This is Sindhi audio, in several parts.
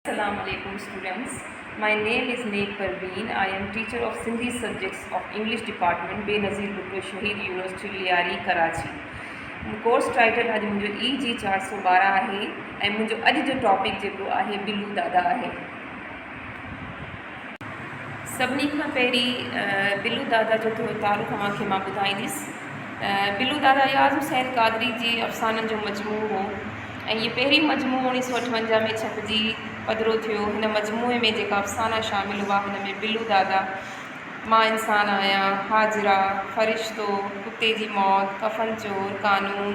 اسلام عليڪم students my name is Naik Parveen I am teacher of Sindhi subjects of English department Benazir Bhutto Shaheed university Lyari Karachi course title اڄ منهنجو اي جي چار سو ٻارهن آهي ۽ منهنجو اڄ جو ٽاپڪ جيڪو آهي بلو دادا آهي سڀني کان پهرين بلو دادا جو ٿورو تعارف اوهان کي مان ٻڌائينديس. بلو دادا اياز حسين قادري جي افسانن جو مجموعو هو ۽ هي پهريون مجموعو اڻيهه سؤ اٺونجاهه ۾ ڇپجي پڌرو ٿيو. هن مجموعي ۾ جيڪا افسانا شامل هئا هن ۾ بلو دادا، مان انسان آهيان، حاجره، فرشتو، ڪتي جي موت، ڪفن چور، قانون،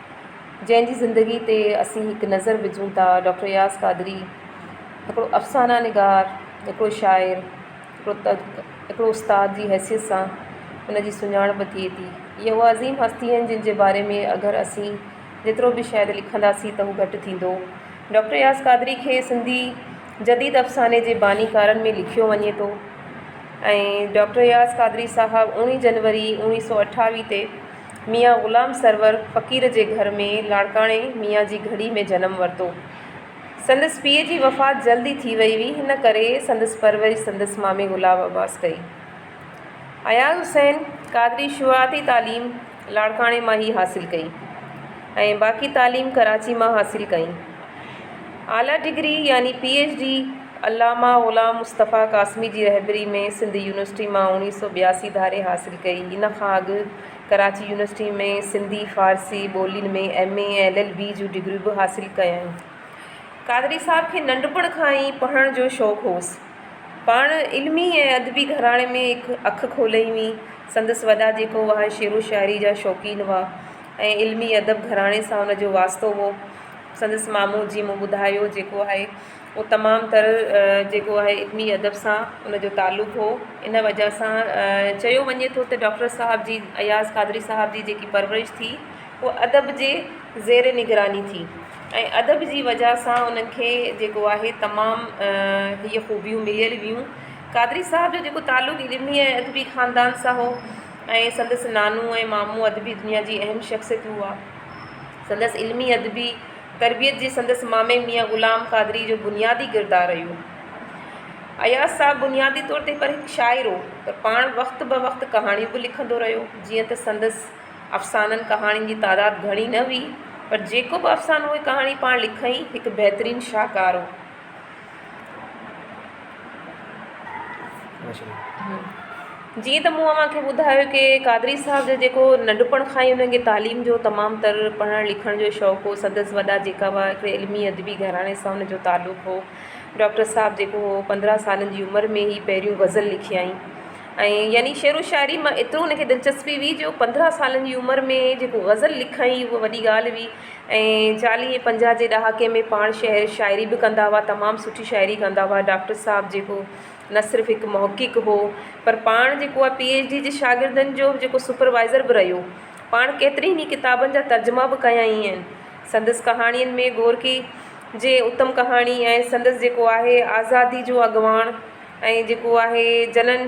جنهن جي زندگي تي اسين هڪ نظر وجهون ٿا ڊاڪٽر اياز قادري هڪڙو افسانه نگار هڪڙو شاعر هڪڙو تد هڪڙو استاد جي حيثيت سان ان جي سڃاڻپ ٿئي ٿي هي هو عظيم هستي آهن جن جي باري ۾ اگر اسين جيترو به شايد لکنداسين ته هو گهٽ ٿيندو ڊاڪٽر اياز قادري کي سنڌي جديد افساني جي باني ڪارن ۾ لکيو وڃي ٿو ۽ ڊاڪٽر اياز قادري صاحب اڻويهه جنوري اڻويهه سو اٺاويهه تي ميان غلام سرور فقير جي گهر ۾ لاڙڪاڻي ميان جي گهڙي ۾ جنم ورتو. سندس پيء جي وفات جلد ئي ٿي وئي هئي، هن ڪري سندس پرورش سندس مامي گلاب عباس ڪئي. اياز حسين قادري شروعاتي تعليم لاڙڪاڻي مان ئي حاصل ڪئي ۽ باقي تعليم ڪراچي مان حاصل ڪئي. اعليٰ ڊگري يعني P H D Allama Ghulam Mustafa Qasimi جي رهبري ۾ سنڌ يونيورسٽي مان اوڻيھ سؤ ٻياسي ڌاري حاصل ڪئي. ان کان اڳ ڪراچي يونيورسٽي ۾ سنڌي، فارسي ٻولين ۾ M A ۽ L L B جون ڊگريون به حاصل ڪيائين. قادري صاحب کي ننڍپڻ کان ئي پڙهڻ جو شوق هوس. پاڻ علمي ۽ ادبي گهراڻي ۾ هڪ اک کولئي هئي. سندس وڏا جيڪو اها شعر و شاعري جا شوقين هئا ۽ علمي ادب گهراڻي سان ان جو واسطو هو. سندس مامو جيئن مون ٻڌايو جيڪو آهي اهو تمام تر جيڪو آهي علمي ادب سان ان جو تعلق هو ان وجه سان چيو وڃي ٿو ته ڊاڪٽر صاحب جي اياز قادري صاحب جي جيڪي پرورش ٿي هو ادب جي زير نگراني ٿي ۽ ادب جي وجه سان انهن کي جيڪو آهي تمام هيء خوبيون مليل هيون قادري صاحب جو جيڪو تعلق علمي ۽ ادبي خاندان سان هو ۽ سندس نانو ۽ مامو ادبي دنيا جي اهم شخصيتون هئا سندس علمي ادبي تربيت جي سندس مامي ميان غلام قادريء جو بنيادي ڪردار رهيو. اياز صاحب بنيادي طور تي پر هڪ شاعر هو پر پاڻ وقت به وقت ڪهاڻيون به لکندو رهيو جيئن ته سندس افسانن ڪهاڻين جي تعداد گهڻي نه هئي پر جيڪو به افسانو ڪهاڻي پاڻ لکئين هڪ بهترين شاهڪار هو. جيئن ته مون اوهان کي ٻڌايو ڪي قادري صاحب جو جيڪو ننڍپڻ کان ئي انهن کي تعليم جو تمام تر پڙهڻ لکڻ جو شوق هو سندس وڏا جيڪا هئا هڪڙي علمي ادبي گهراڻي سان ان جو تعلق هو ڊاڪٽر صاحب جيڪو هو پندرهن سالن جي عمر ۾ ئي پهريون غزل لکيائين ۽ يعني شعر و شاعري مان ايترو ان کي دلچسپي هئي جو پندرهن سالن جي عمر ۾ جيڪو غزل لکائين هو وڏي ڳالهه هئي ۽ چاليهه ۽ پنجاهه جي ڏهاڪي ۾ پاڻ شعر شاعري به ڪندا هئا تمام سٺي شاعري ڪندا هئا ڊاڪٽر صاحب جيڪو نه صرف هڪ محقق هو پر پاڻ جيڪو آهي پي ايڇ ڊي جي شاگردن جو جيڪو سپروائزر به رهيو پاڻ ڪيترين ئي ڪتابن جا ترجما به ڪيائين آهن سندس ڪهاڻين ۾ گورڪي جي اتم ڪهاڻي ۽ سندس جيڪو آهي آزادي جو اڳواڻ ۽ جيڪو آهي جنن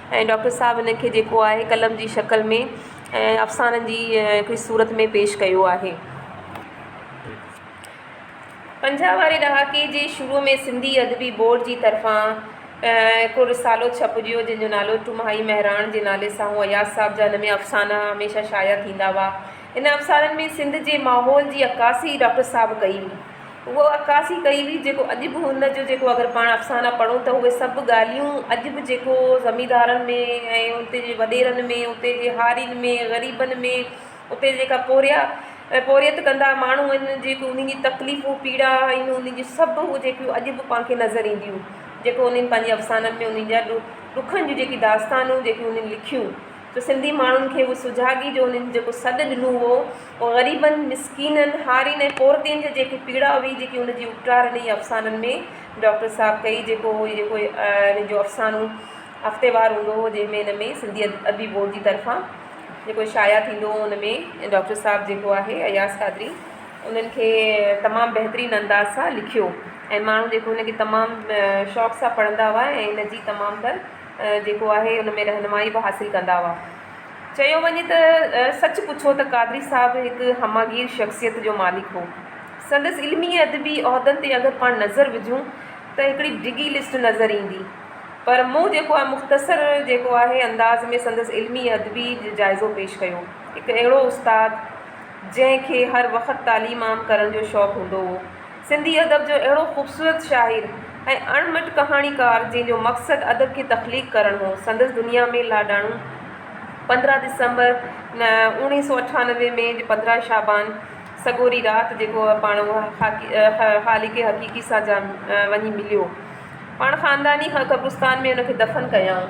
۽ ڊاڪٽر صاحب ان کي جيڪو آهي قلم جي شڪل ۾ ۽ افسانن جي هڪڙي صورت ۾ پيش ڪيو آهي. پنجاهه واري ڏهاڪي جي شروع ۾ سنڌي ادبي بورڊ جي طرفان هڪڙو رسالو ڇپجيو جنهن جو نالو ٽمهائي مهراڻ جي نالي سان هو اياز صاحب جا ان ۾ افسانا هميشه شايع ٿيندا هئا ان افسانن ۾ سنڌ جي ماحول جي عڪاسي ڊاڪٽر صاحب ڪئي هئي اها عڪاسي ڪئي هئي جيڪو اڄ به ان جو جيڪو اگر پاڻ افسانا پڙهون ته اهي سڀ ڳالهيون اڄ به جيڪو زميندارن ۾ ۽ اتي جي وڏيرن ۾ اتي جي هارين ۾ غريبن ۾ اتي جيڪا پورهيا ۽ پورهيت ڪندا ماڻهو آهن جيڪو انهن جي تڪليفون پيڙا آهن انهن جي سڀ اهي جيڪيون اڄ به پاڻ کي نظر اينديون جيڪو انهن پنهنجي افسانن ۾ انهن جا ڏک ڏکن جون جيڪي داستانون جيڪي انهن لکيون جو سنڌي ماڻهن کي اهو سجاڳي جو انهن جيڪو سڏ ڏنو هو او غريبن مسڪينن هارين ۽ پورتين جي جيڪي پيڙا هئي جيڪي ان جي اپٽار انهي افسانن ۾ ڊاڪٽر صاحب ڪئي جيڪو هو جيڪو ان جو افسانو هفتيوار هوندو هو جنهن ۾ ان ۾ سنڌي ادبي بورڊ جي طرفان جيڪو شايع ٿيندو هو ان ۾ ڊاڪٽر صاحب جيڪو آهي اياز قادري انهن کي تمام بهترين انداز سان لکيو ۽ ماڻهو جيڪو ان کي تمام شوق سان پڙهندا هئا ۽ ان جي تمام تر جيڪو آهي ان ۾ رهنمائي به حاصل ڪندا هئا. چيو وڃي ته سچ پڇو ته قادري صاحب هڪ همهگير شخصيت جو مالڪ هو. سندس علمي ۽ ادبي عهدن تي اگر پاڻ نظر وجهون ته هڪڙي ڊگهي لسٽ نظر ايندي پر مون جيڪو آهي مختصر جيڪو آهي انداز ۾ سندس علمي ۽ ادبي جائزو پيش ڪيو. هڪ اهڙو استاد جنهن کي هر وقت تعليم عام ڪرڻ جو شوق هوندو هو. سنڌي ادب جو اهڙو خوبصورت شاعر ۽ اڻ مٽ ڪهاڻيڪار جنهن جو مقصد ادب کي تخليق ڪرڻ هو سندس دنيا ۾ لاڏاڻو پندرهن ڊسمبر اوڻيهه سو اٺانوي ۾ جي پندرهن شعبان سڳوري رات جيڪو پاڻ خالق حقيقي سان جا وڃي مليو پاڻ خانداني قبرستان ۾ ان کي دفن ڪيائون.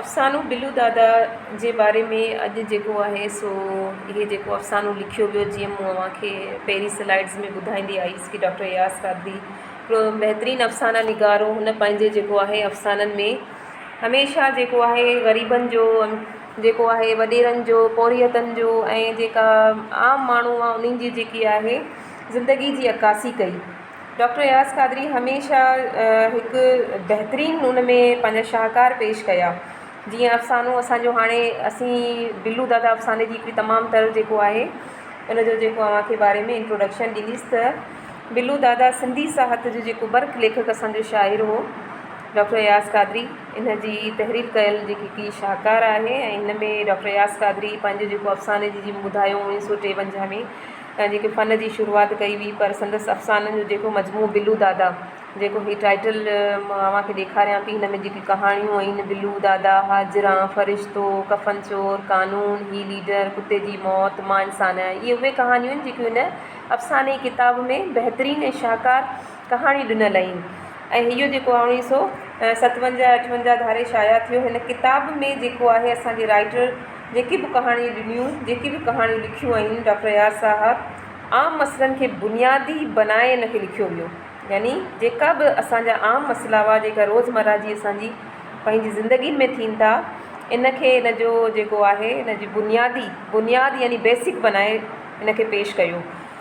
افسانو بلو دادا جي باري ۾ اڄ جيڪو آهي سو هي جيڪو افسانو لکيو ويو جيئن مون اوهان کي پهرين سلائيڊز ۾ ٻڌائيندي آئيس ڪي ڊاڪٽر اياز قادري هڪڙو بهترين افسانا نگار هو هن پنهنجي جيڪو آهي افسانن ۾ هميشه جيڪو آهي غريبن جو جيڪو آهي وڏيرن جو پورهيتن جو ۽ جيڪا عام ماڻهو آهي انهن جي جيڪي آهي زندگي جي عڪاسي ڪئي ڊاڪٽر اياز قادري هميشه هڪ بهترين ان ۾ پنهنجا شاهڪار پيش ڪيا جيئن افسانو اسانجو هاڻي اسين بلو دادا افساني جي هڪڙي تمام تر جيڪو آهي ان جو جيڪو اوهانکي باري ۾ انٽروڊڪشن ڏنيس ته بلو دادا سنڌي ساهت جو جيڪو برک ليکڪ اسانجو شاعر هو ڊاڪٽر اياز قادري ان جي تحرير ڪيل جيڪي هڪڙي شاهڪار آهي ۽ ان ۾ ڊاڪٽر اياز قادري پنهنجو جيڪو افساني جي جي ٻڌايو اڻويهه سو ٽيونجاهه ۾ تان جيڪي فن جي شروعات ڪئي هئي پر سندس افسانن جو جيڪو مجموعو بلو دادا جيڪو هي ٽائيٽل مان اوهان کي ڏيکاريان پئي هن ۾ جيڪي ڪهاڻيون آهن بلو دادا هاجران فرشتو ڪفن چور قانون هي ليڊر ڪتي جي موت مان انسان آهيان اهي اهي ڪهاڻيون آهن جيڪي هن افساني ڪتاب ۾ بهترين ۽ شاهڪار ڪهاڻي ڏنل اهين ۽ هيء جيڪو آهي اڻويهه سؤ ستونجاهه اٺونجاهه ڌاري شايع ٿيو هن ڪتاب ۾ جيڪو آهي اسان جي رائيٽر جيڪي به ڪهاڻيون ڏنيون جيڪي به ڪهاڻيون لکيون اهين ڊاڪٽر اياز صاحب عام مسئلن کي بنيادي بنائي ان کي لکيو ويو يعني جيڪا به اسان جا عام مسئلا هئا جيڪا روزمره جي اسان جي پنهنجي زندگين ۾ ٿين ٿا ان کي ان جو جيڪو آهي ان جي بنيادي بنياد يعني بيسڪ بنائي ان کي پيش ڪيو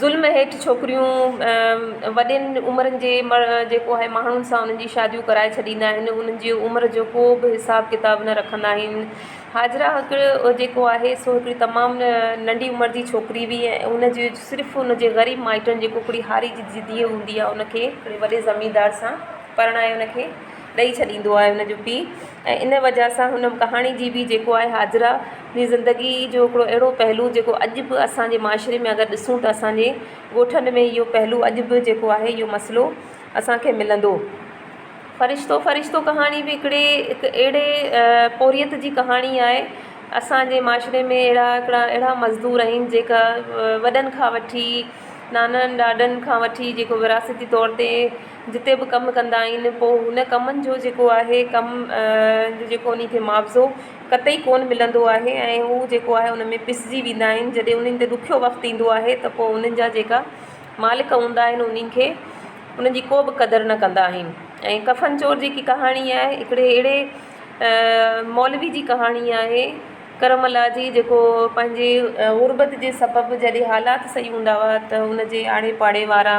ظلم هيٺ ڇوڪريون وڏين عمرن جي جيڪو آهي ماڻهن سان انهن جي شاديون ڪرائي ڇڏيندا آهن انهن جي عمر جو ڪو به حساب ڪتاب نه رکندا آهن هاجره هڪ جيڪو آهي سو هڪڙي تمام ننڍي عمر جي ڇوڪري هئي ۽ ان جي صرف ان جي غريب مائٽن جيڪو هڪڙي هاري جي ڌيء هوندي آهي ان کي هڪڙي وڏي زميندار سان پرڻائي ان کي ڏئي ڇڏيندو آهي هن جو پيء ۽ ان وجه سان هن ڪهاڻي جي بي جيڪو آهي حاجره جي زندگي جو هڪڙو اهڙو پهلو جيڪو اڄ به اسان جي معاشري ۾ اگر ڏسون ته اسانجي ڳوٺن ۾ اهو پهلو اڄ به جيڪو آهي اهو مسئلو اسانکي ملندو فرشتو فرشتو ڪهاڻي بي هڪڙي هڪ اهڙي پورهيت جي ڪهاڻي آهي اسانجي معاشري ۾ اهڙا هڪڙا اهڙا مزدور آهن جيڪا وڏن کان وٺي نانائن ڏاڏن کان وٺي جيڪو وراثتي طور تي جتي به ڪم ڪندا آهن پوء ان ڪمن جو جيڪو آهي ڪم جو جيڪو انهي کي معاوضو قطعي ڪونه ملندو آهي ۽ هو جيڪو آهي ان ۾ پسجي ويندا آهن جڏهن انهن تي ڏکيو وقت ايندو آهي ته پوء انهن جا جيڪا مالڪ هوندا آهن انهن کي انهن جي ڪو به قدر نه ڪندا آهن ۽ ڪفن چور جيڪي ڪهاڻي آهي هڪڙي اهڙي مولوي جي ڪهاڻي آهي ڪرم الله جي جيڪو پنهنجي غربت جي سبب جڏهن حالات سهي هوندا هئا ته ان جي آڙي پاڙي وارا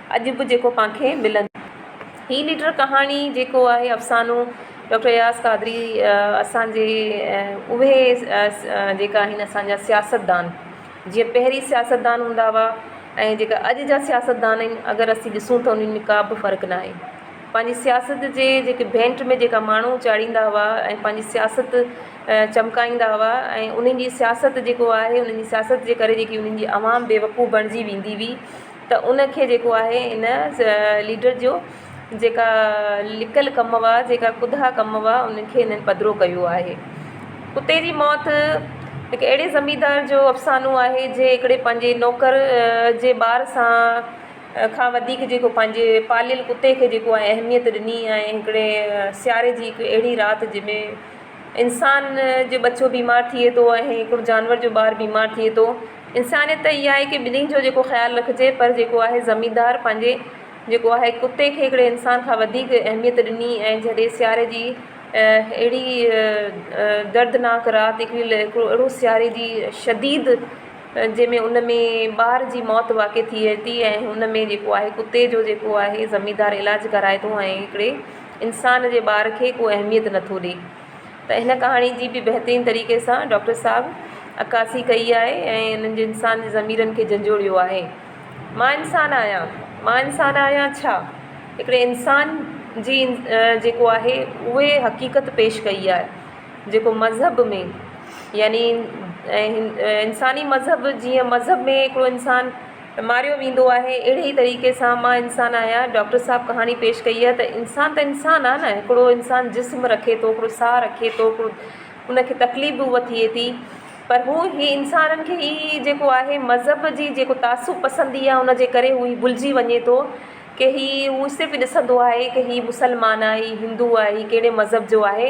اڄ به جيڪو پان کي ملندو. هي نيٽر ڪهاڻي جيڪو آهي افسانو ڊاڪٽر اياز قادري اسان جي اهي جيڪا آهن اسان جا سياستدان جيئن پهرين سياستدان هوندا هئا ۽ جيڪا اڄ جا سياستدان آهن اگر اسين ڏسون ته انهن ۾ ڪا به فرق نه آهي پنهنجي سياست جي جيڪي ڀينٽ ۾ جيڪا ماڻهو چاڙهيندا هئا ۽ پنهنجي سياست چمڪائيندا هئا ۽ انهن جي سياست جيڪو آهي انهن جي سياست جي ڪري جيڪي انهن جي عوام بيوقوف بڻجي ويندي هئي ته ان کي جيڪو آهي ان ليڊر جو جيڪا لڪل ڪم هئا جيڪا ڪڌا ڪم هئا انهن کي انهن پڌرو ڪيو آهي ڪتي جي موت هڪ اهڙي زميندار جو افسانو آهي جي هڪڙي پنهنجي نوڪر جي ٻار سان کان وڌيڪ جيڪو پنهنجي پاليل ڪتي کي جيڪو آهي اهميت ڏني آهي هڪڙي سياري جي هڪ اهڙي رات جنهن ۾ انسان جو ٻچو بيمار ٿئي ٿو ۽ هڪڙو جانور جو ٻار بيمار ٿئي ٿو انسانيت ته اها آهي ڪي ٻنهين جو جيڪو خيال رکجي پر جيڪو آهي زميندار پنهنجي جيڪو آهي ڪتي کي هڪڙي انسان کان وڌيڪ اهميت ڏني ۽ جڏهن سياري جي اهڙي دردناڪ رات هڪڙي هڪڙو اهڙو سياري جي شديد جنهن ۾ ان ۾ ٻار جي موت واقع ٿئي ٿي ۽ ان ۾ جيڪو آهي ڪتي جو جيڪو آهي زميندار علاج ڪرائي ٿو ۽ هڪڙي انسان جي ٻار کي ڪو اهميت نٿو ڏي ته هن ڪهاڻي جي به بهترين طريقي سان ڊاڪٽر صاحب عڪاسي ڪئي آهي ۽ هنن جي انسان جي ضميرن کي جنجهوڙيو آهي. مان انسان آهيان، مان انسان آهيان ڇا؟ هڪڙي انسان جي جيڪو آهي اهي حقيقت پيش ڪئي آهي جيڪو مذهب ۾ يعني انساني مذهب جيئن مذهب ۾ هڪڙو انسان ماريو ويندو آهي اهڙي ئي طريقي سان مان انسان آهيان ڊاڪٽر صاحب ڪهاڻي پيش ڪئي آهي ته انسان ته انسان آهي نه هڪڙو انسان جسم رکي ٿو هڪڙو ساهه رکي ٿو هڪڙو ان کي تڪليف به هئي ٿئي ٿي پر هو هي انسانن کي هي جيڪو آهي مذهب جي جيڪو تعصب پسندي آهي ان جي ڪري هو هي ڀلجي وڃي ٿو ڪي هي هو صرف ڏسندو آهي ڪي هي مسلمان آهي هندو آهي هي ڪهڙي مذهب جو آهي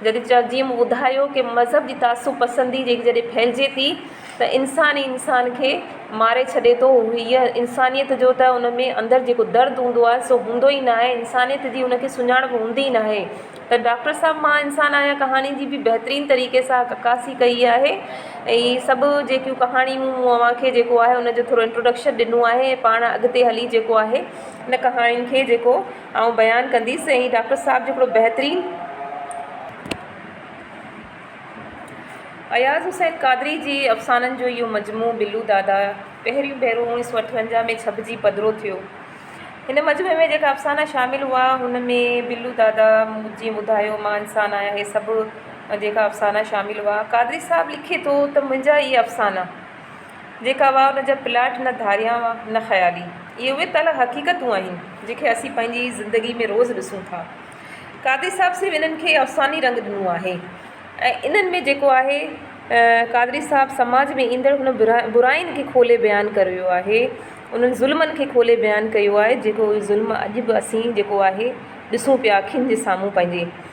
جڏهن ته جيئن مون ٻڌايو ڪه مذهب جي تعصب پسندي جيڪي جڏهن ڦهلجي ٿي ته انسان ئي انسان کي ماري ڇڏي ٿو هيء انسانيت جو ته ان ۾ اندر جيڪو درد هوندو آهي سو هوندو ئي ناهي انسانيت جي ان کي سڃاڻپ هوندي ئي ناهي ته ڊاڪٽر صاحب مان انسان آهيان ڪهاڻي جي به بهترين طريقي سان عڪاسي ڪئي آهي ۽ هي سڀ جيڪيون ڪهاڻيون مون اوهان کي جيڪو آهي ان جو ٿورو انٽروڊڪشن ڏنو آهي پاڻ اڳتي هلي جيڪو آهي ان ڪهاڻين کي جيڪو آئون بيان ڪنديس ۽ ڊاڪٽر صاحب جو هڪڙو بهترين اياز حسين قادري جي افسانن جو اهو مجموعو بلو دادا پهريون ڀيرو اوڻيهه سو اٺونجاهه ۾ ڇپجي پڌرو ٿيو. هن مجموعي ۾ جيڪا افسانا شامل هئا ان ۾ بلو دادا، موت جيئن ٻڌايو، مان انسان آهيان اهي سڀ جيڪا افسانا شامل هئا. قادري صاحب لکي ٿو ته منهنجا اهي افسانا. جيڪا هئا ان جا پلاٽ نه ڌاريا هئا نه خيالي. اهي اهي تعاليٰ حقيقتون آهن جن کي اسين پنهنجي زندگي ۾ روز ڏسون ٿا. قادري صاحب صرف انهن کي افساني رنگ ڏنو آهي ۽ انهن ۾ جيڪو آهي قادري صاحب سماج ۾ ايندڙ هن براين کي کولي بيان ڪريو آهي انهن ظلمن کي کولي بيان ڪيو آهي جيڪو ظلم اڄ به اسين جيڪو آهي ڏسون پيا اکين جي سامهون پنهنجي.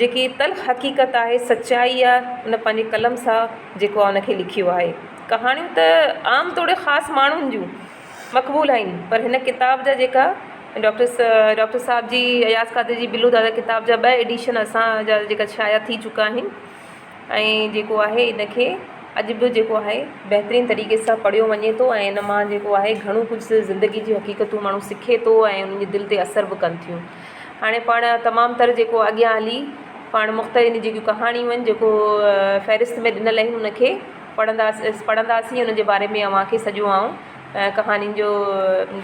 جيڪي تلخ حقيقت آهي، سچائي آ، ان پنهنجي قلم سان جيڪو آ ان کي لکيو آهي. ڪهاڻيون ته عام توڙي خاص ماڻهن جون مقبول آهن پر هن ڪتاب جا جيڪا ڊاڪٽر ڊاڪٽر صاحب جي اياز قادري جي بلو دادا ڪتاب جا ٻه ايڊيشن اسان جا جيڪا شايع ٿي چڪا آهن ۽ جيڪو آهي ان کي اڄ به جيڪو آهي بهترين طريقي سان پڙهيو وڃي ٿو ۽ ان مان جيڪو آهي گهڻو ڪجهه زندگي جون حقيقتون ماڻهو سکي ٿو ۽ ان جي دل تي اثر به ڪن ٿيون هاڻي پاڻ تمام تر جيڪو اڳيان هلي پاڻ مختلف ان جي ڪهاڻيون آهن جيڪو فهرست ۾ ڏنل آهن ان کي پڙهنداسي پڙهنداسي ان جي باري ۾ اوهان کي سڄو آئون ڪهاڻين جو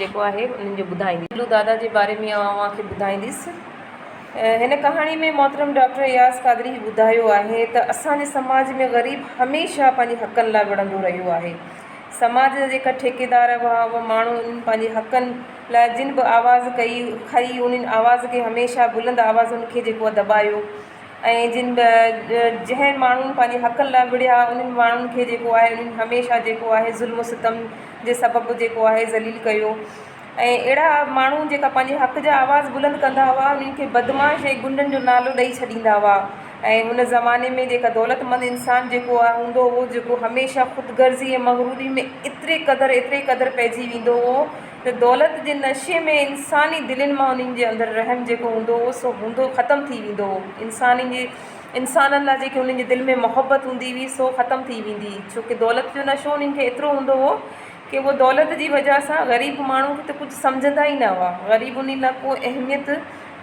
جيڪو آهي انهن جو ٻڌائيندي دادا جي باري ۾ اوهان کي ٻڌائينديس هن ڪهاڻي ۾ محترم ڊاڪٽر اياز قادري هي ٻڌايو آهي ته اسان جي سماج ۾ غريب هميشه پنهنجي حقن لاء وڙهندو رهيو آهي. سماج جا جيڪا ٺيڪيدار هئا اهي ماڻهو انهن پنهنجي حقن لاء جن به آواز ڪئي کئي انهن آواز کي هميشه بلند آوازن کي جيڪو آهي دٻايو ۽ جن به جنهن ماڻهن پنهنجي حقن لاء وڙهيا انهن ماڻهن کي جيڪو آهي انهن هميشه جيڪو آهي ظلم و ستم جي سبب جيڪو آهي ذليل ڪيو ۽ اهڙا ماڻهو جيڪا پنهنجي حق جا آواز بلند ڪندا هئا انهن کي بدمعاش ۽ غنڊن جو نالو ڏئي ڇڏيندا هئا ۽ ان زماني ۾ جيڪا دولتمند انسان جيڪو آ هوندو هو جيڪو هميشه خود غرضي ۽ مغروري ۾ ايتري قدر ايتري قدر پئجي ويندو هو ته دولت جي نشي ۾ انساني دلين مان انهن جي اندر رحم جيڪو هوندو هو سو هوندو ختم ٿي ويندو هو انسانن جي انسانن لاء جيڪي انهن جي دل ۾ محبت هوندي هئي سو ختم ٿي ويندي ڇو ڪي دولت جو نشو انهن کي ايترو هوندو هو ڪي اهو دولت جي وجهه سان غريب ماڻهو کي ته ڪجهه سمجهندا ئي نه هئا، غريب انهي لاء ڪو اهميت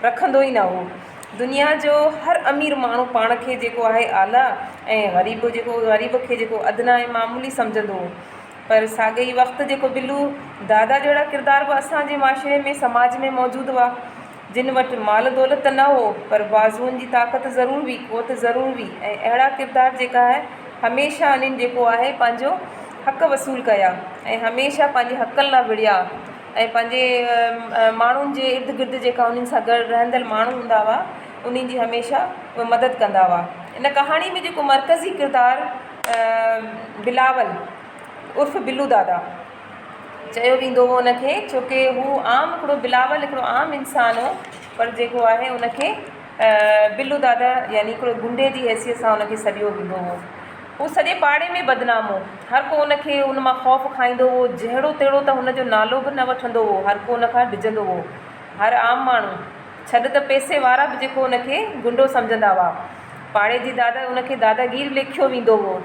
رکندو ئي نه هو. دنيا جو هر امير ماڻهو پاڻ کي جيڪو آهي اعليٰ ۽ غريب جيڪو غريب کي جيڪو ادنيٰ ۽ معمولي سمجهندو هو. پر ساڳئي وقت جيڪو بلو دادا جهڙا ڪردار به اسان جي معاشري ۾ سماج ۾ موجود هئا. جن وٽ مال دولت ته نه هو پر بازوئن جي طاقت ضرور هئي، قوت ضرور هئي ۽ اهڙا ڪردار جيڪا هميشه انهن جيڪو آهي پنهنجو حق وصول ڪيا ۽ هميشه پنهنجي حقن لا وڙهيا ۽ پنهنجي ماڻهن جي ارد گرد جيڪا انهن سان گڏ رهندڙ ماڻهو هوندا هئا انهن جي هميشه اهي مدد ڪندا هئا. ان ڪهاڻي ۾ جيڪو مرڪزي ڪردار بلاول عرف بلو دادا. چيو ويندو هو ان کي ڇو ڪي هو عام هڪڙو بلاول هڪڙو عام انسان هو پر جيڪو آهي ان کي بلو دادا يعني هڪڙو گنڊي جي حيثيت سان ان کي سڏيو ويندو هو هو سڄي پاڙي ۾ بدنام هو هر ڪو ان کي ان مان خوف کائيندو هو جهڙو تهڙو ته هن جو نالو به نه وٺندو هو هر ڪو ان کان ڊڄندو هو هر عام ماڻهو ڇڏ ته پئسي وارا به جيڪو ان کي گنڊو سمجهندا هئا پاڙي جي دادا ان کي داداگير ليکيو ويندو هو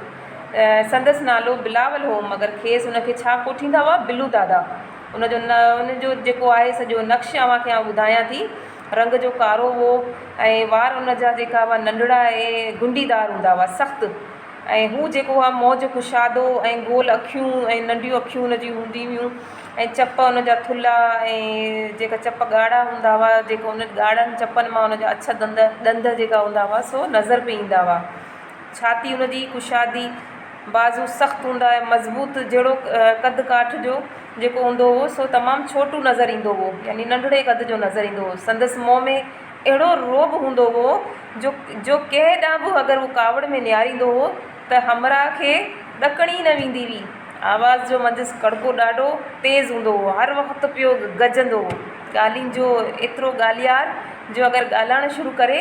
سندس نالو بلاول هو، مگر کيس ان کي ڇا ڪوٺيندا هئا، بلو دادا. ان جو ان جو جيڪو آهي سڄو نقش اوهان کي آئون ٻڌايان ٿي. رنگ جو ڪارو هو ۽ وار ان جا جيڪا هئا ننڍڙا ۽ گنڊي دار هوندا هئا، سخت. ۽ هو جيڪو هئا موج ڪشادو ۽ گول اکيون ۽ ننڍيون اکيون ان جون هونديون هيون ۽ چپ ان جا ٿلها ۽ جيڪا چپ ڳاڙها هوندا هئا، جيڪو ان ڳاڙهن چپن مان ان جا اڇ دند ڏند جيڪا هوندا هئا سو نظر پئي ايندا هئا. ڇاتي ان جي ڪشادي، بازو سخت هوندا ۽ مضبوط جهڙوڪ قد ڪاٺ جو جيڪو هوندو هو سو تمام ڇوٽو نظر ايندو هو يعني ننڍڙي قد جو نظر ايندو هو. سندس منهن ۾ اهڙو رعب هوندو هو جو جو ڪنهن ڏانهن به اگر هو ڪاوڙ ۾ نهاريندو هو ته همراهه کي ڏڪڻ ئي نه ويندي هئي. آواز جو منجهس ڪڙڪو ڏاڍو تيز هوندو هو، هر وقت پيو گجندو هو. ڳالهين جو ايترو ڳالهيار جو اگر ڳالهائڻ شروع ڪري.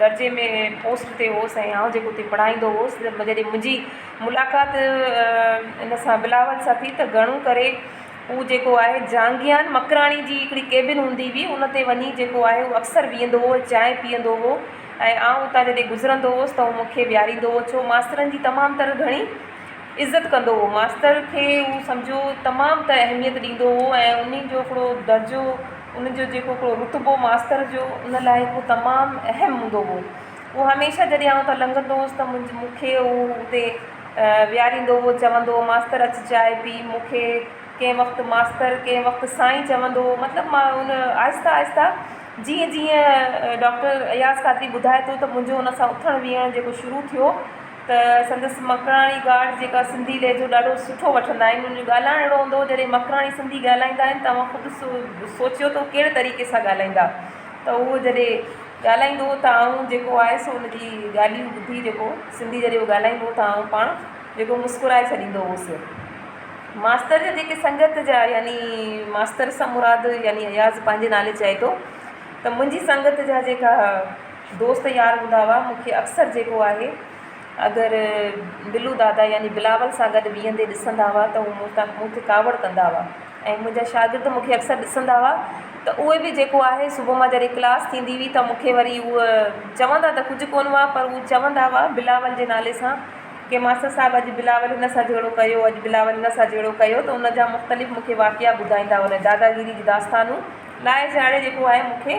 درجي ۾ پوسٽ تي هوس ۽ آئون جيڪو اتي پڙهائيندو هوس جڏهن منهنجي ملاقات ان سان بلاول سان ٿي ته گهڻو ڪري هو جيڪو آهي جهانگيان مڪراڻي جي هڪڙي ڪيبن هوندي هئي ان تي وڃي جيڪو آهي هو اڪثر ويهندو هو چانهه پيئندو هو ۽ آئون اتان جڏهن گذرندو هوس ته هو مون کي ويهاريندو هو ڇو ماسترن جي تمام تر گهڻي عزت ڪندو هو ماستر کي هو سمجهو تمام ته اهميت ڏيندو هو ۽ انهي جو هڪڙو درجو ان جو جيڪو هڪڙو رتبو ماستر جو ان لاء هڪ تمام اهم هوندو هو هو هميشه جڏهن آئون اتان لنگهندو هوس ته مون مونکي هو اتي ويهاريندو هو چوندو هو ماستر اچ چائي پي مونکي ڪنهن وقت ماستر ڪنهن وقت سائين چوندو هو مطلب ما ان آهسته آهسته جيئن جيئن ڊاڪٽر اياز قادري ٻڌائي ٿو ته منهنجو ان سان اٿڻ ويهڻ جيڪو شروع ٿيو ته سندس مڪراڻي گارڊ جيڪا سنڌي لهجو ڏاڍو سٺو وٺندا آهن انهن جو ڳالهائڻ اهڙو هوندو هو جڏهن مڪراڻي سنڌي ڳالهائيندا آهن ته اوهان خود سوچيو ته هو ڪهڙي طريقي سان ڳالهائيندا ته اهو جڏهن ڳالهائيندو هو ته آئون جيڪو آهي سو ان جي ڳالهيون ٻڌي جيڪو سنڌي جڏهن هو ڳالهائيندو هو ته آئون پاڻ جيڪو مسڪرائي ڇڏيندو هوس ماستر جا جيڪي سنگت جا يعني ماستر سان مراد يعني اياز پنهنجي نالي چئي ٿو ته منهنجي سنگت جا جيڪا دوست يار هوندا هئا، مون کي اڪثر جيڪو آهي اگر بلو دادا يعني بلاول سان گڏ ويهندي ڏسندا هئا ته هو مون تان مون تي ڪاوڙ ڪندا هئا ۽ منهنجا شاگرد مون کي اڪثر ڏسندا هئا ته اهي به جيڪو آهي صبح مان جڏهن ڪلاس ٿيندي هئي ته مون کي وري هو چوندا ته ڪجهه ڪونه هئا پر هو چوندا هئا بلاول جي نالي سان ڪي ماستر صاحب اڄ بلاول هن سان جهيڙو ڪيو اڄ بلاول هن سان جهيڙو ڪيو ته ان جا مختلف مون کي واقعا ٻڌائيندا هئا ان داداگيري جون داستانون لائي چاڙهي جيڪو آهي مون کي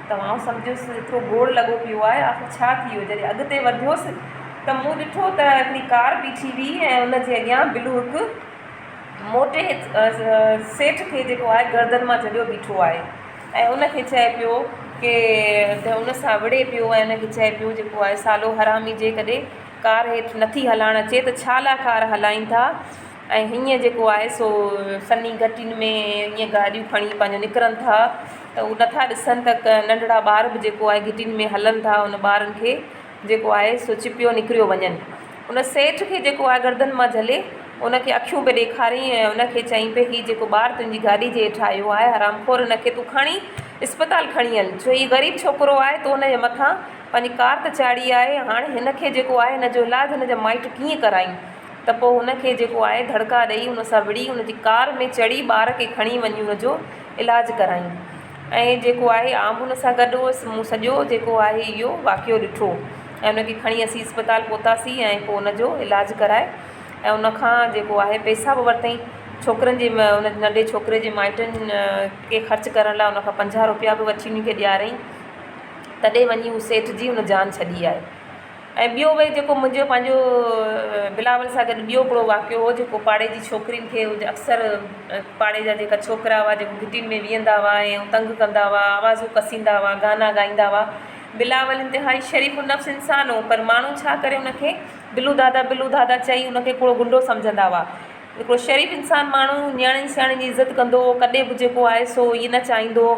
ته آئون سمجهيس ايترو گوڙ لڳو پيو آهي، آخر ڇا ٿي ويو؟ جڏهن اڳتي وڌيس ته مون ڏٺو ته هڪڙي ڪار بيٺي هئي ۽ ان جي اڳيان بلو هڪ موٽي سيٺ کي جيڪو آهي گردن مان جهليو بيٺو آهي ۽ ان کي چئي پيو ڪي ته ان سان وڙهي پيو ۽ ان کي چئي پيو جيڪو آهي سالو حرامي جيڪڏهن ڪار هيٺ نٿي هلائڻ اچي ته ڇا لاء ڪار هلائين ٿا؟ ۽ هينئر جيڪو آهي سو سنهي گهٽين ۾ ائين گاڏيون کڻي پنهنجو نڪرن ٿا ته هو نٿا ڏسن ته ڪا ننڍڙا ٻار به جيڪو آهي گهٽين ۾ هلن ٿا ان ٻارن کي جيڪو آهي سو چپيو نڪريو وڃن ان سيٺ کي جيڪو آهي گردن مان جهلي ان کي اکيون پئي ڏيکارين ۽ ان کي چئين پئي هي جيڪو ٻار تنهنجي گاڏي جي هيٺ آيو آهي حرام خور ان کي تون کڻي اسپتال کڻي هل ڇو هي غريب ڇوڪرو آهي تو ان جي مٿان پنهنجي ڪار ته چاڙهي آهي هاڻي هن کي جيڪو آهي هن جو علاج هن جا مائٽ ڪيئن ڪرائين ته پوء هن کي جيڪو آهي ڌڙڪا ڏئي ان سان وڙهي ان جي ڪار ۾ چڙهي ٻار کي کڻي وڃي ان جو علاج ڪرايون ۽ جيڪو آهي آئون به ان سان گڏ هئس مون سڄو جيڪو آهي اهو واقعو ڏٺو ۽ ان کي کڻي اسين اسپتال پهتاسين ۽ پوء ان جو علاج ڪرائي ۽ ان کان جيڪو آهي پئسا به ورتائين ڇوڪرن جي ان ننڍي ڇوڪري جي مائٽن کي خرچ ڪرڻ لاء ان کان پنجاهه روپيا به وٺي ان کي ڏيارائين تڏهن وڃي هو سيٺ جي هن جان ڇڏي آهي ۽ ٻيو وي جيڪو منهنجو پنهنجو بلاول سان گڏ ٻيو هڪڙو واقعو هو جيڪو پاڙي جي ڇوڪرين کي اڪثر پاڙي جا جيڪا ڇوڪرا هئا جيڪو گهٽين ۾ ويهندا هئا ۽ تنگ ڪندا هئا آوازون ڪسيندا هئا گانا گائيندا هئا بلاول انتهائي شريف النفس انسان هو پر ماڻهو ڇا ڪري ان کي بلو دادا بلو دادا چئي ان کي هڪڙو غنڊو سمجهندا هئا هڪڙو شريف انسان ماڻهو نياڻين سياڻين جي عزت ڪندو هو ڪڏهن به جيڪو آهي سو هي نه چاهيندو هو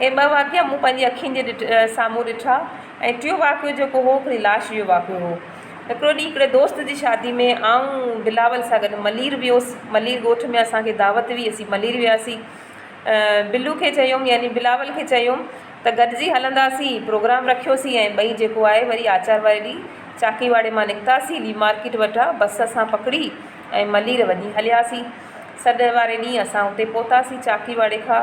هي ٻه واقعا مون پنهنجي اکين جي ڏٺ سامهون ڏٺا ۽ ٽيون واقعو جيڪو هو هڪڙي لاش جو واقعو هو. هڪڙو ڏينهن هڪڙي دوست جي شادي ۾ آئون بلاول سان گڏ ملير ويس. ملير ڳوٺ ۾ اسان کي دعوت هئي اسين ملير وياسين. بلو کي چيم يعني بلاول کي چيم ته گڏجي هلنداسين پروگرام رکيوسين ۽ ٻئي جيڪو آهي وري آچار واري ڏينهن چاڪي واڙي مان نڪتاسين لي مارڪيٽ وٽان بس اسان پڪڙي ۽ ملير وڃي هلياسين. سڏ واري ڏينهن اسان اتي پهتاسين چاڪي واڙي کان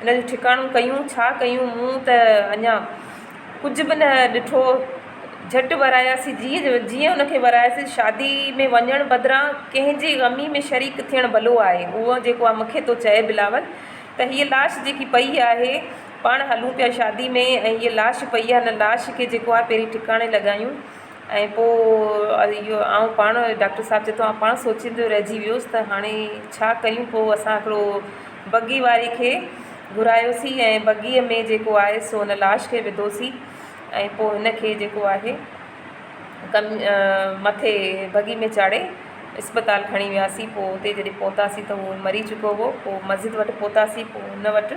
ان جو ٺڪاڻو ڪيون ڇا ڪيون مون ته اڃا ڪجهه به نه ڏٺو جهٽ وراياسي جيئن جيئن ان کي وراياسي شادي ۾ وڃڻ بدران ڪنهن جي غمي ۾ شريڪ ٿيڻ ڀلو آهي اهو جيڪو آ مونکي ٿو چئي بلاول ته هيء لاش جيڪي پئي آهي پاڻ هلون پيا شادي ۾ ۽ هيء لاش پئي آ هن لاش کي جيڪو آ پهرين ٺڪاڻي لڳايون ۽ پوء اهو آئون پاڻ ڊاڪٽر صاحب چيو آئون پاڻ سوچيندو رهجي ويس ته هاڻي ڇا ڪريون پوء اسان هڪڙو بگي واري کي گهرايوسين ۽ بگيء ۾ جيڪو آهي سو ان لاش کي وڌوسين ۽ پوء هن کي جيڪو آهي ڪن مٿي بگي ۾ چاڙهي اسپتال کڻي وياسين پوء اتي جڏهن پهتاسين ته هو مري چڪو هو پوء مسجد وٽ پهتاسين پوء هن وٽ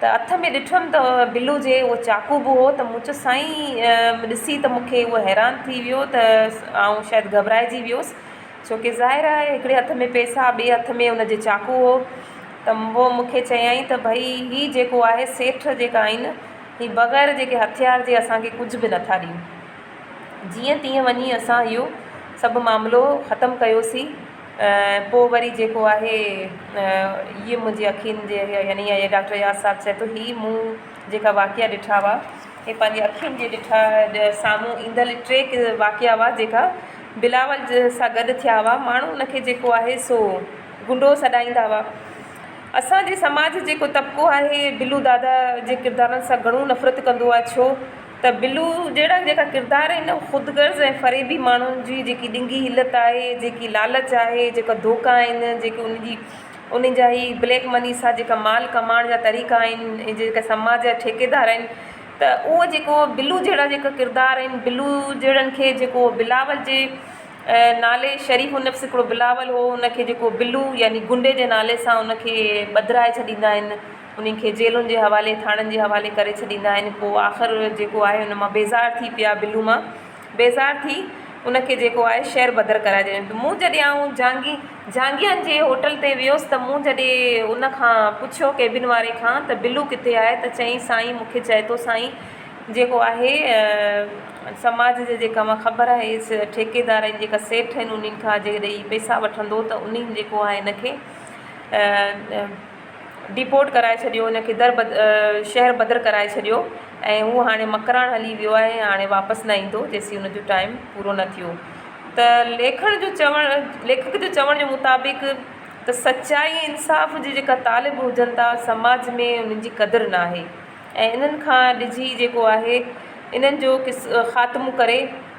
ته هٿ ۾ ڏٺم ته بلو جي اهو چاقو به هو ته مون چيس سائين ڏسي ته مون کي هو حيران ٿي ويو ته آئون شايد گهٻرائجي ويس ڇو ڪي ظاهر آهي هڪڙي هٿ ۾ پيسا ٻي هٿ ۾ ان جي چاقو هو ته هو مون کي چيائين ته ڀئي هي جيڪو آهي سيٺ جيڪا آهن هي بغير جيڪي هٿيار جي اسان کي ڪجهه به نٿا ڏين جيئن تيئن وڃي اسان اهو سڀ معاملو ختم ڪيوسين ۽ پوء وري جيڪو آهي هيء منهنجي اکين جي اڳيان يعني اهي ڊاڪٽر اياز صاحب چئي ٿو هي مون جيڪا واقعا ڏٺا هئا هي پنهنجي اکين جي ڏٺا سامهون ايندل ٽي واقعا هئا جيڪا بلاول جي سان گڏ ٿيا هئا ماڻهو ان کي جيڪو آهي سو گنڊو سڏائيندا هئا اسانجي سماج جيڪو طبقو آهي بلو دادا جي ڪردارن سان گهڻو نفرت ڪندو آهي ڇو ته بلو جهڙا جيڪا ڪردار آهن اهي خود غرض ۽ فريبي ماڻهن جي جيڪي ڏنگي حيلت آهي جيڪي لالچ آهي جيڪا ڌوڪا آهن جيڪي ان جي انهن جا هي بليڪ مني سان جيڪا مال ڪمائڻ جا طريقا آهن ۽ جيڪا سماج جا ٺيڪيدار آهن ته اهو جيڪو بلو جهڙا جيڪا ڪردار آهن بلو جهڙن کي جيڪو بلاول جي نالي شريف النفس هڪڙو بلاول هو ان کي جيڪو بلو يعني غنڊي جي نالي سان ان کي ٻڌرائي ڇڏيندا آهن انهن کي جيلن جي حوالي ٿاڻن جي حوالي ڪري ڇڏيندا آهن پوء آخر جيڪو آهي ان مان بيزار ٿي پيا بلو مان بيزار ٿي ان کي جيڪو آهي شهر بدر ڪرائي ڇڏين ته مون جڏهن آئون جهانگي جهانگيان جي هوٽل تي ويس ته مون جڏهن ان کان پڇيو ڪيبن واري کان ته بلو ڪٿي آهي ته چيائين سائين مون کي چئي ٿو سائين جيڪو آهي سماج جي جيڪا مان خبر آهي اس ٺيڪيدار ۽ جيڪا سيٺ آهن انهن کان جيڪڏهن هي پئسا وٺندو ته انهن جيڪو آهي ان کي ڊيپورٽ ڪرائي ڇڏيو ان کي در بدر شهر بدر ڪرائي ڇڏيو ۽ هو هاڻي مڪران هلي ويو آهي ۽ هاڻي واپس نه ايندو جيسين ان جو ٽائيم پورو نه ٿيو ته ليکڻ جو چوڻ ليکڪ جو چوڻ جي مطابق ته سچائي ۽ انصاف جي جيڪا طالب هجن ٿا سماج ۾ انهن جي قدر نه آهي ۽ انهن کان ڊڄي جيڪو آهي انهن جو کاتمو ڪري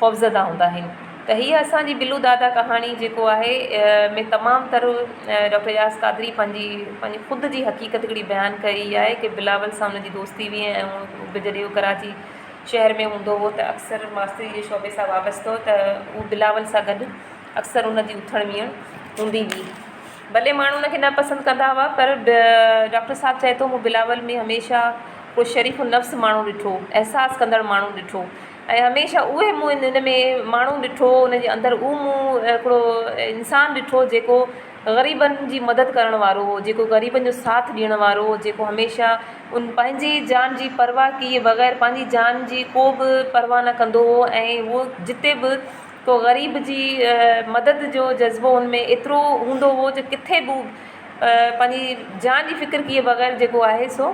خوفزده هوندا آهن ته هيء اسان جي بلو دادا ڪهاڻي جيڪو آهي ۾ تمام تر ڊاڪٽر اياز قادري پنهنجي پنهنجي خود جي حقيقت هڪڙي بيان ڪئي آهي ڪي بلاول سان ان جي دوستي هئي ۽ هو به جڏهن هو ڪراچي شهر ۾ هوندو هو ته اڪثر ماستري جي شعبي سان وابستو ته هو بلاول سان گڏ اڪثر ان جي اٿڻ ويهڻ هوندي هئي ڀلي ماڻهو ان کي نه پسند ڪندا هئا پر ڊاڪٽر صاحب چئي ٿو مون بلاول ۾ هميشه ڪو شريف النفس ماڻهو ڏٺو احساس ڪندڙ ماڻهو ڏٺو ۽ هميشه اهي مون ان ان ۾ ماڻهو ڏٺو ان جي اندر اهو مون هڪڙو انسان ڏٺو جيڪو غريبن جي مدد ڪرڻ وارو هو جيڪو غريبن جو ساٿ ڏيڻ وارو هو جيڪو هميشه ان پنهنجي جان جي پرواهه ڪيئي بغير پنهنجي جان جي ڪو به پرواهه نه ڪندو هو ۽ هو جتي به ڪو غريب جي مدد جو جذبو ان ۾ ايترو هوندو هو جو ڪٿي به پنهنجي جان جي فڪر ڪيئي بغير جيڪو آهي سو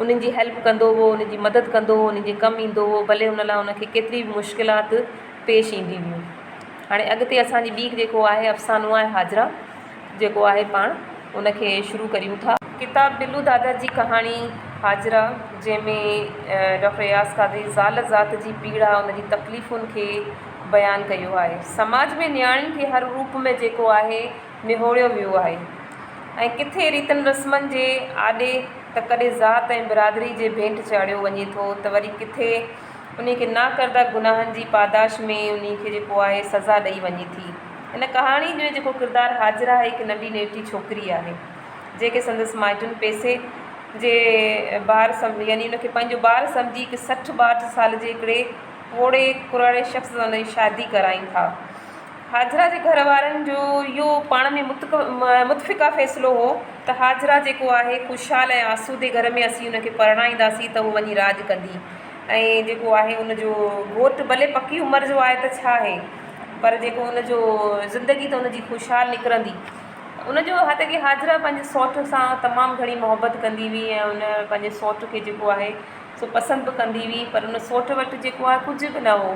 انهن جي هيلپ ڪندو هو انهن جي مدد ڪندو هو انهن جي ڪم ايندو هو ڀلي ان لاء ان کي ڪيتري به مشڪلات پيش ايندي هيون هاڻي اڳتي اسانجي ٻي جيڪو آهي افسانو آهي حاجرا جيڪو آهي پاڻ ان کي شروع ڪريون ٿا. ڪتاب بلو دادا جي ڪهاڻي حاجرا جنهن ۾ ڊاڪٽر اياز قادري زال ذات جي پيڙا ان جي تڪليفن کي بيان ڪيو آهي سماج ۾ نياڻين کي هر روپ ۾ جيڪو آهي نهوڙيو ويو آهي ۽ ڪٿي ريتن رسمن جي آڏي ته ڪڏهن ذات ۽ برادري جي ڀيٽ چاڙهيو وڃي ٿو ته وري ڪٿي انهي کي ناڪرده گناهن جي پاداش ۾ انهي کي جيڪو آهي سزا ڏئي وڃي ٿي. هن ڪهاڻي جو جيڪو ڪردار هاجره هڪ ننڍي نيٽي ڇوڪري آهي جنهنکي سندس مائٽن پئسي جي بار سمجهي يعني ان کي پنهنجو بار سمجهي هڪ سٺ ٻاهٺ سال جي هڪڙي پوڙهي ڪراڙي شخص سان ان جي شادي ڪرائين ٿا. حاجره جي گهر وارن جو اهو پاڻ ۾ متفقه فيصلو هو ته حاجره جيڪو آهي خوشحال ۽ آسودي گهر ۾ اسين ان کي پرڻائينداسين ته هو وڃي راڄ ڪندي ۽ جيڪو آهي ان جو گهوٽ ڀلي پڪي عمر جو آهي ته ڇا آهي پر جيڪو ان جو زندگي ته ان جي خوشحال نڪرندي ان جو هت ڪي حاجره پنهنجي سوٽ سان تمام گهڻي محبت ڪندي هئي ۽ ان پنهنجي سوٽ کي جيڪو آهي سو پسند به ڪندي هئي پر ان سوٽ وٽ جيڪو آهي ڪجهه به نه هو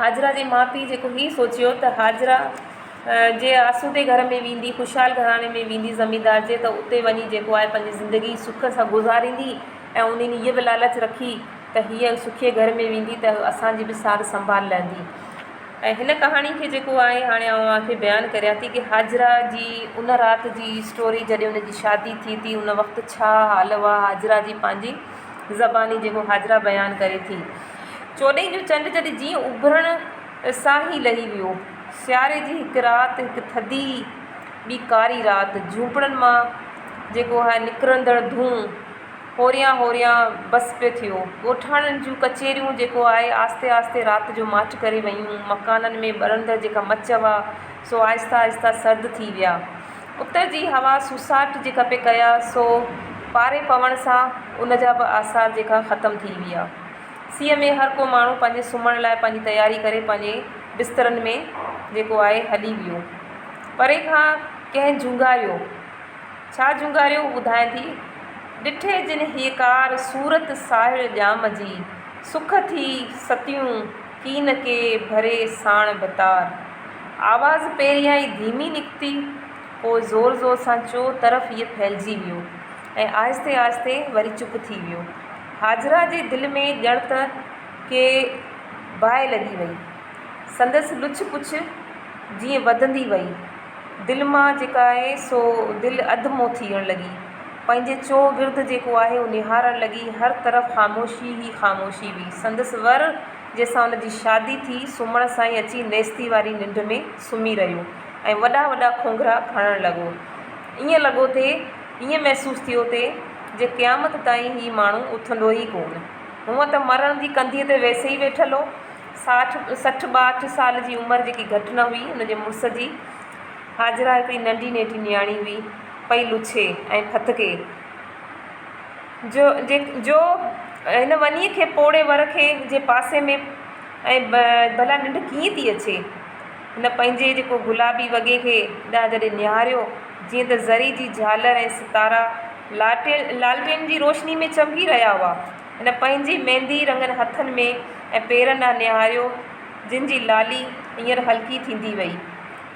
هاجره جي ماء پيء جيڪو هي سوچيو ته هاجره جي آسودي گهر ۾ ويندي، خوشحال گهراڻي ۾ ويندي زميندار جي ته اتي وڃي جيڪو آهي پنهنجي زندگي سک سان گذاريندي ۽ انهن هيء به لالچ رکي ته هيء سکي گهر ۾ ويندي ته اسان جي به سار سنڀال لهندي ۽ هن ڪهاڻي کي جيڪو آهي هاڻي آئون اوهان کي بيان ڪريان ٿي ته هاجره جي ان رات جي اسٽوري جڏهن ان جي شادي ٿي ٿي ان وقت ڇا حال هئا هاجره جي پنهنجي زباني جيڪو حاجرا بيان ڪري ٿي. چوڏهين جو چنڊ جڏهن جيئن اڀرڻ سان ئي لهي ويو. سياري جي هڪ رات، هڪ ٿڌي ٻي ڪاري رات، جهونپڙن مان جيڪو هي نڪرندڙ ڌونء هوريان هوريان بس پيو ٿيو. ڳوٺاڻن جون ڪچهريون جيڪو آهي آهستي آهستي رات جو ماٺ ڪري ويون. مڪانن ۾ ٻرندڙ جيڪا مچ هئا سو آهستي آهستي سرد ٿي ويا. اتر جي هوا سوساٽ جي کپي ڪيا سو پاري پوڻ سان ان جا به آثار جيڪا ختم ٿي ويا. سيء ۾ هر ڪو ماڻهو پنهنجي سمهڻ لاء پنهنجي تياري ڪري پنهنجي بسترن ۾ جيڪو آهي هلي ويو. پري کان ڪنهن جهونگاريو. ڇا جهونگاريو هو ٻڌائين ٿي. ڏٺي جن هيڪار صورت ساهڙ ڄام جي. سک ٿي ستيون. ڪين ڪي ڀري ساڻ ڀتار. آواز پهريان ئي ڌيمي نڪتي، پوء زور زور سان چو طرف ئي ڦهلجي ويو ۽ آهستي آهستي وري چپ ٿي ويو. هاجره جي دل ۾ ڄڻ ته ڪي باهه لڳي وئي. سندس لڇ پڇ جيئن وڌندي وئي. دل مان جيڪا آهي سو دل اڌ مون ٿيڻ لڳي. پنهنجي چو گرد جيڪو آهي اهو نهارڻ لڳي. هر طرف خاموشي ئي خاموشي هئي. سندس ور جنهن سان ان جي شادي ٿي سمهڻ سان ئي اچي نيستي واري ننڊ ۾ سمهي رهيو ۽ وڏا وڏا کونگهرا کڻڻ لڳو. ائين لڳو ٿي، ائين محسوس ٿيو ٿي جي قيامت تائين هي ماڻهو اٿندو ئي ڪونه. هونء ته مرڻ جي ڪنڌيء تي ويسي ئي ويٺل هو. ساٺ سٺ ٻاهٺ سال جي عمر جيڪي گهٽ نه هئي ان جي مڙس جي حاجره هڪڙي ننڍي نيٺي نياڻي هئي پئي لڇي ۽ ڦٿڪي جو جي جو هن ونيء کي پوڙهي ور کي جي پاسي ۾ ۽ ڀلا ننڊ ڪيئن ٿي اچي هن پنهنجي جيڪو گلابي وڳي کي ڏانهن جڏهن نهاريو جيئن ته ذري جي جهالر ۽ ستارا لاٽيل لالٽين جي روشني ۾ چمڪي رهيا هئا هن پنهنجي ميندي رڱن هٿن ۾ ۽ پيرن ڏانهن نهاريو، جن جي لالي هينئر هلڪي ٿيندي وئي.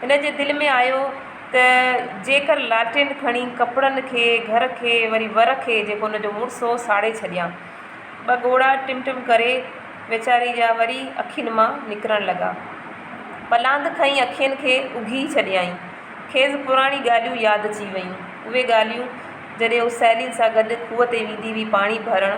هن جي دل ۾ آيو ته جيڪر لالٽين کڻي ڪپڙن کي، گهر کي، وري ور کي، جيڪو هن جو مڙس هو، ساڙي ڇڏيان. ٻه ڳوڙها ٽم ٽم ڪري ويچاري جا وري اکين مان نڪرڻ لڳا. پلاند کئين اکين کي اگهي ڇڏيائين. کيس پراڻيون ڳالهيون ياد اچي ويون. اهي ڳالهيون جڏهن هو سهيلين سان گڏ کوهه تي ويندي هئي پاڻي ڀرڻ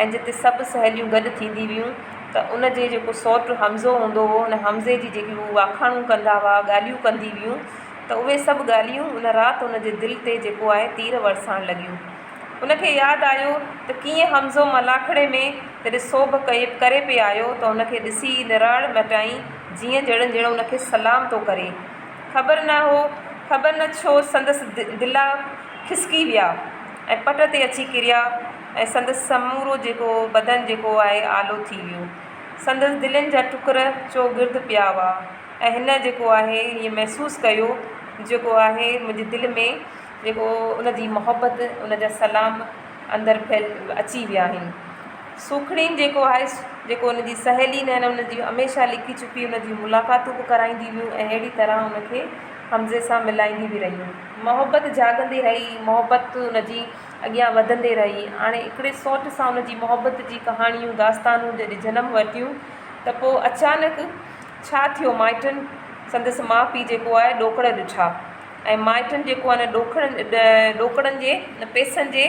۽ جتي سڀ سهيليون گڏ ٿيندي هيون ته ان جي جيڪو سوٽ حمزو هوندو هو ان حمزي جي جيڪي هو واکاڻون ڪندا هئا ڳالهيون ڪندي هيون ته اهي سڀ ڳالهيون ان رات ان جي دل تي جيڪو آهي تير ورسائڻ لڳيون ان کي ياد آيو ته ڪيئن حمزو ملاکڙي ۾ جڏهن سوڀ ڪئي ڪري پئي آيو ته ان کي ڏسي نراڙ مٽائين جيئن ڄڻ ڄڻ ان کي سلام ٿو ڪري خبر نه هو خبر نه ڇو سندس دلا کسڪي ويا ۽ پٽ تي اچي ڪريا ۽ سندس سمورو جيڪو بدن جيڪو آهي آلو ٿي ويو. سندس دلين جا ٽڪر چوگرد پيا هئا ۽ هن جيڪو آهي هيء محسوس ڪيو جيڪو آهي منهنجي دل ۾ جيڪو ان جي محبت ان جا سلام اندر ڦهل اچي ويا آهن. سوکڙين جيڪو آهي جيڪو ان جي سهيلي نه ان جي هميشه لڪي ڇپي ان جي ملاقاتون به ڪرائيندي هيون ۽ اهڙي طرح ان کي حمزي سان ملائيندي به رهيون. محبت جاڳندي رهي، محبت ان جي اڳيان وڌندي رهي. هاڻي هڪڙي سوٽ سان ان جي محبت جي ڪهاڻيون، داستانون جڏهن جنم ورتيون ته پوء اچانڪ ڇا ٿيو مائٽن سندس ماء پيء جيڪو آهي ڏوڪڙ ڏٺا ۽ مائٽن جيڪو آهي ان ڏوڪڙن جي ان پئسن جي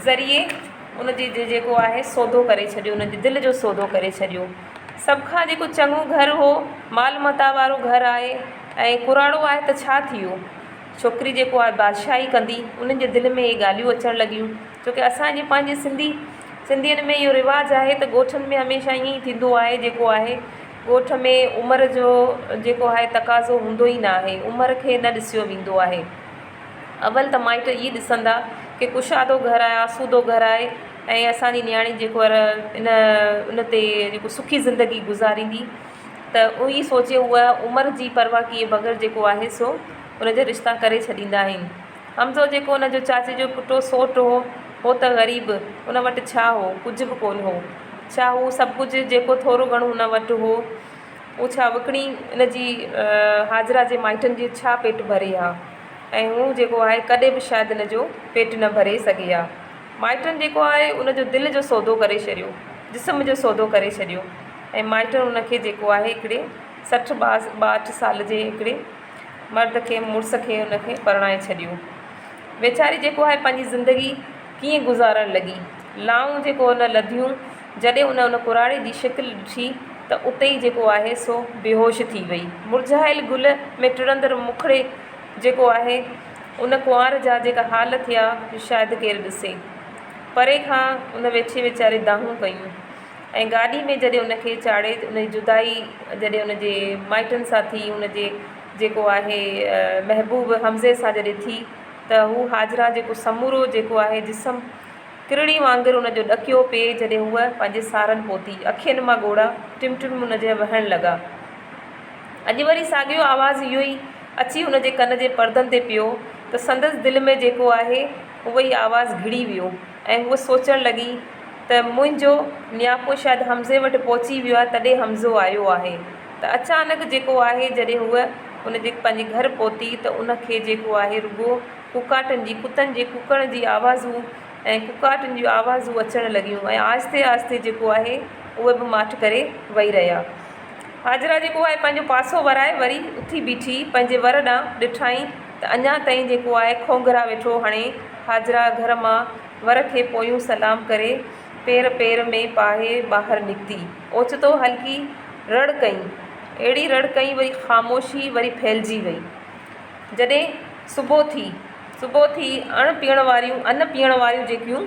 ذريعي ان جي جيڪو آهي سودو ڪري ڇڏيو ان جي دل جو سودو ڪري ڇڏيو. سڀ کان جيڪو چڱو گهر هو مال متاع وارو گهر آهي ۽ ڪراڙو آهي ته ڇا ٿي ويو. ڇوڪري جيڪو آهي بادشاهي ڪندي انهن جي دل ۾ اهي ڳالهيون اچڻ لڳيون ڇو ڪي اسان جي پنهنجي سنڌي سنڌين ۾ اهو رواج آهي ته ڳوٺن ۾ هميشه ائين ئي ٿيندو آهي جيڪو آهي ڳوٺ ۾ عمر جو جيڪو آهي تقاضو هوندو ئي ناهي عمر کي نه ڏسيو ويندو آهي اول ته مائٽ اهي ڏسندا ڪي ڪشادو گهر آهي آسودو گهر آهي. ۽ اسان جي نياڻي جيڪو آ ان ان تي جيڪو سکي زندگي گذاريندي ته اهو ئي سوچي هو عمر جي پرواهه ڪيئي بغير جيڪو آهي سو ان جا رشتا ڪري ڇڏيندا آهن. حمزو جيڪو ان جو چاچي جو پٽو سوٽ هو، هو ته غريب، ان وٽ ڇا هو، ڪجهه به ڪونه هو. ڇا هو سڀ ڪجهه جيڪو ٿورو گهڻو هن وٽ هو، اهو ڇا وڪڻي ان جي حاجره جي مائٽن جي ڇا پيٽ ڀري ها ۽ هو جيڪو آهي ڪڏهن به شايد ان جو پيٽ نه ڀري سگهي ها. مائٽن جيڪو آهي ان جو دل جو سودو ڪري ڇڏيو، جسم جو سودو ڪري ڇڏيو ۽ مائٽن ان کي جيڪو آهي هڪڙي سٺ ٻاهٺ سال جي هڪڙي مرد کي مڙس کي ان کي پرڻائي ڇڏيو. ويچاري جيڪو آهي پنهنجي زندگي ڪيئن گذارڻ لڳي. لائون جيڪو ان لڌيون جڏهن ان ان ڪراڙي جي شڪل ڏٺي ته اتي ئي جيڪو آهي سو بيهوش ٿي وئي. مرجهايل گل ۾ ٽڙندڙ مکڙي جيڪو آهي. ان ڪنوار جا جيڪا حال ٿيا جو شايد ڪير ڏسي. پري کان ان ويڇي ويچاري دانهون ڪيون ۽ گاڏي ۾ جڏهن ان کي چاڙهي ان جي جدائي جڏهن ان جي مائٽن سان ٿي ان جي جيڪو آهي محبوب حمزي سان جڏهن ٿي ته هو هاجره جيڪو سمورو جيڪو آهي جسم ڪرڙي وانگر ان جو ڏڪيو پئي جڏهن هوء پنهنجي سارن پهتي اکين مان ڳوڙها ٽم ٽم ان جي وهڻ لڳا. اڄ وري ساڳيو آواز اهو ئي. اچي هن جي ڪن جي پردن تي پيو ته سندس دل ۾ جيڪو آهي اهو ئي آواز گهڙي ويو ۽ هوء سوچڻ لڳي ته منهنجو نياپو شايد حمزي وٽ پهچي ويو آهي تڏهن حمزو آيو آهي ته اچانڪ جيڪو آهي جڏهن هوء ان جي پنهنجي گهر پهتي ته ان کي جيڪو آهي رڳو ڪوڪاٽن جي ڪتن جي ڪوڪڻ جي آوازون ۽ ڪوڪاٽن جون آوازون اچڻ لڳيون ۽ آهستي آهستي جيڪو آهي اهي به ماٺ ڪري وئي رهيا. حاجره جيڪو آهي پنهنجو پاسو ورائي وري اٿي بيٺي پنهنجي ور ڏانهن ڏٺائين ته اڃا تائين جيڪو آهي کونگهرا ويٺو هڻي حاجره گهر مان ور کي پويون سلام ڪري پير پير ۾ پاهي ٻاهر نڪتي اوچتو هلڪي رڙ ڪئين اهڙي رڙ ڪئين وري خاموشي وري ڦهلجي وئي جڏهن صبح ٿي صبح ٿي اڻ پيئڻ واريون ان پيئڻ واريون جيڪيون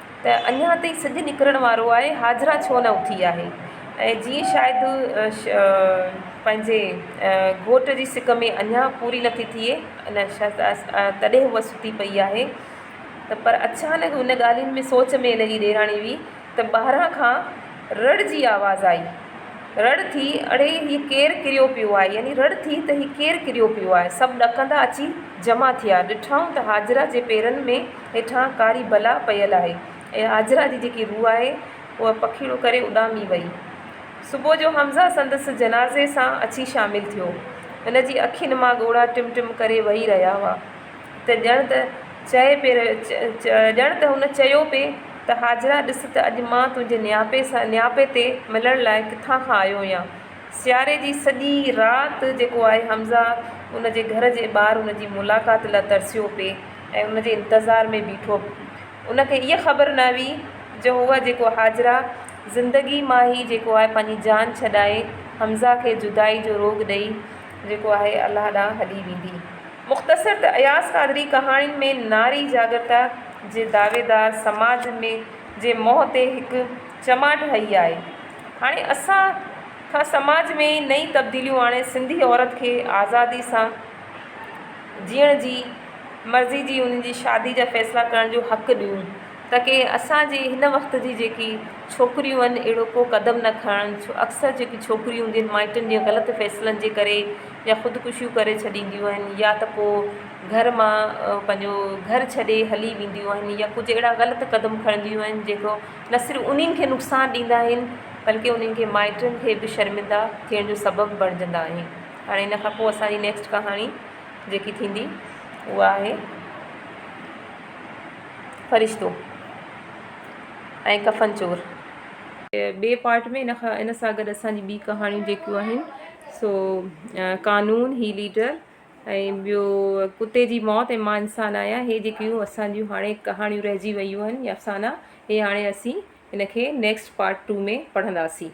ته اڃا تائين سج نڪرڻ وارو آهي، حاجره ڇو نه اٿي آهي؟ ۽ جيئن شايد پنهنجي گهوٽ جي سڪ ۾ اڃا پوري نٿي ٿئي ان تڏهن هوء ستي پئي آهي ته پر اچانڪ ان ڳالهين ۾ سوچ ۾ لڳي ڏيراڻي هئي ته ٻاهران کان رڙ جي آواز آئي. رڙ ٿي، اڙي هي ڪير ڪريو پيو آهي؟ يعني رڙ ٿي ته هي ڪير ڪريو پيو آهي؟ سڀ ڏڪندا اچي جمع ٿيا، ڏٺائون ته حاجره جي پيرن ۾. هيٺان ڪاري بلا پيل آهي ۽ هاجره جي جيڪي روح آهي اها پکيئڙو ڪري اڏامي وئي. صبح جو حمزه سندس جنازي سان اچي شامل ٿيو. هن جي اکين مان ڳوڙها ٽم ٽم ڪري وهي رهيا هئا ته ڄڻ ته چئي پئي رهيو ڄڻ ته هن چيو پئي ته هاجره ڏس ته اڄ مان تنهنجي نياپي سان نياپي تي ملڻ لاء ڪٿان کان آيو هيان. سياري جي سڄي رات جيڪو آهي حمزه ان جي گهر جي ٻاهر ان جي ملاقات لاء ترسيو پئي. ۽ ان جي انتظار ۾ بيٺو. ان کي اها خبر نه هئي جو هوء جيڪو هاجره زندگي مان هي جيڪو آهي پنهنجي جان ڇڏائي حمزه کي جدائي جو روڳ ڏئي جيڪو آهي الله ڏانهن هلي ويندي. مختصر ته اياز قادري ڪهاڻين ۾ ناري جاڳرتا جي دعويدار سماج ۾ جي منهن تي هڪ چماٽ هئي آهي. هاڻي اسان کان سماج ۾ نئين تبديليون آڻي سنڌي عورت کي آزادي سان جيئڻ جي. مرضي جي ان جي شادي جا فيصلا ڪرڻ جو حق ڏيون ته ڪي اسان جي هن وقت جي جيڪي ڇوڪريون آهن اهڙو ڪو قدم نه کڻن ڇو اڪثر جيڪي ڇوڪريون هونديون آهن مائٽن جي غلط فيصلن جي ڪري يا خودڪشيون ڪري ڇڏينديون آهن يا ته پوء گهر مان پنهنجو گهر ڇڏي هلي وينديون آهن يا ڪجهه اهڙا غلط قدم کڻنديون آهن جيڪو نه صرف انهن کي نقصان ڏيندا آهن بلڪه انهن کي مائٽن کي به شرمندا ٿيڻ جو سبب بڻجندا آهن هاڻي ان کان پوء اسان جي نيڪسٽ ڪهاڻي جيڪي ٿيندي اها آهي فرشتو ۽ ڪفن چور. ٻئي پارٽ ۾ ان کان ان سان گڏ اسان جي ٻي ڪهاڻيون جيڪيون آهن سو قانون هي ليڊر ۽ ٻيو ڪتي جي موت ۽ مان انسان آهيان هي جيڪيون اسان جون هاڻي ڪهاڻيون رهجي ويون آهن يا افسانا هي هاڻي اسين ان کي نيڪسٽ پارٽ ٽو ۾ پڙهنداسين